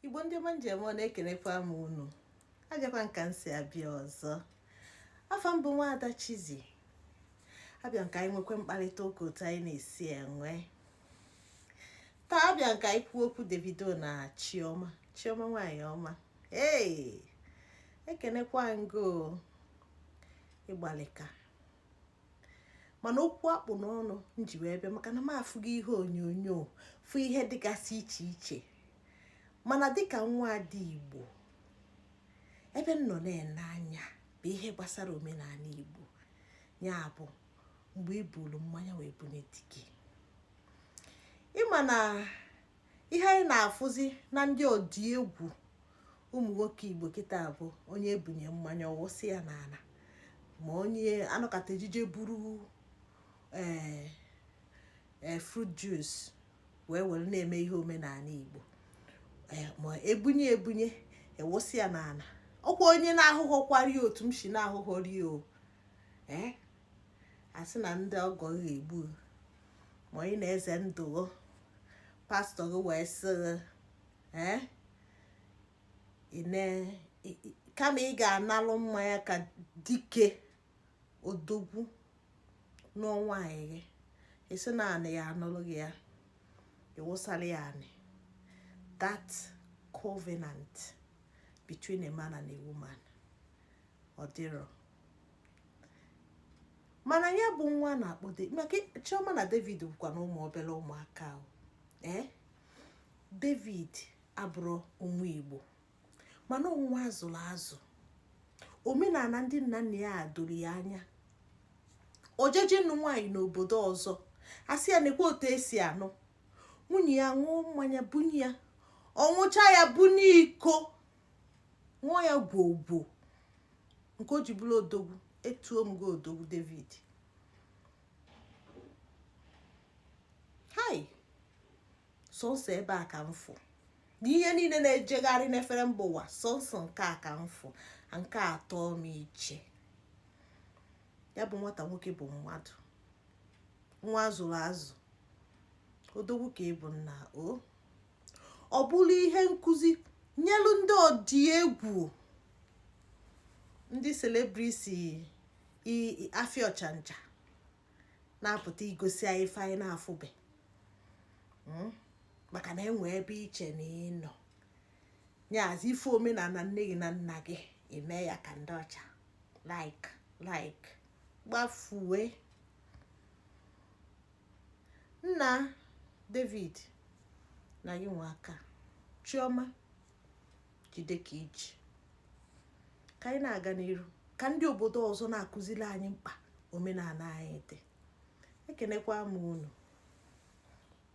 igbo ndị ọma m ji eme ọnụ ekenekwa m unu abịakwa m ka m si abịa ọzọ afa m bụ nwaada Chizzy abịa m ka anyị nwekwa mkparịta ụka otu anyị na-esi enwe taa abịa m ka anyị kwuo okwu Davido na Chioma Chioma nwanyị ọma ee ekenekwa m gị o ịgbalịka mana okwu a kpụ n'ọnụ m ji wee bịa maka na m afụgo ihe onyonyo fụ ihe dịgasị iche iche mana dịka nwaada igbo ebe m nọ na-ene anya bụ ihe gbasara omenala igbo ya bụ mgbe ibulu mmanya wee bunye di gị ịma na ihe anyị na-afụzi na ndị ọdị egwu ụmụ nwoke igbo kịta bụ onye ebunye mmanya ọwụsị ya n'ala ma onye anọkata eje je buru ee eh, eh, fruit juice wee were na-eme ihe omenala igbo eh, ma ebunye ebunye ewụsị ya n'ala ọkwa onye na-ahụghọkwari otu m si na-ahụghọri o ee asị na ndị ọgọ ga-egbu ma ị na-eze ndụ pastọ gị wee sị eh, kama ị ga-analụ mmanya ka dike odogwu na nwaanyị gị esi na anị ya anụrụ gị ya ịwụsara ya anị that covenant between a man and a woman ọ dịrọ mana ya bụ nwa na-akpọ maka chioma na david bụkwa na ụmụ obere ụmụaka ahụ ee david abụrọ onye igbo mana nwa azụrụ azụ omenala ndị nna nna ya doro ya anya o jeje ịnụ nwaanyị n'obodo ọzọ asị ya nekwa otu esi anụ nwunye ya ṅụọ mmanya bunye ya ọṅụcha ya bunye iko ṅụọ ya gwogwo nke o ji bụrụ odogwu etuo m gị odogwu david hai sọsọ ebe a ka m fụ na ihe niile na-ejegharị n'efere mba ụwa sọsọ nke a ka m fụ nke atọ m iche ya bụ nwata nwoke bụ mmadụ nwa azụrụ azụ odogwu ka ịbụ nna o ọ bụrụ ihe nkụzi nyelu ndị ọdị egwu ndị selebriti afịa ọchanja na-apụta igosi anyị ife anyị na-afụbe hmm? maka na enwe ebe iche na ịnọ nyazi ife omenala nne gị na nna gị eme ya ka ndị ọcha like like gbafue nna david na gị nwe aka chioma jide ka i ji ka anyị na-aga n'iru ka ndị obodo ọzọ na-akụziri anyị mkpa omenala anyị dị ekenekwa m unu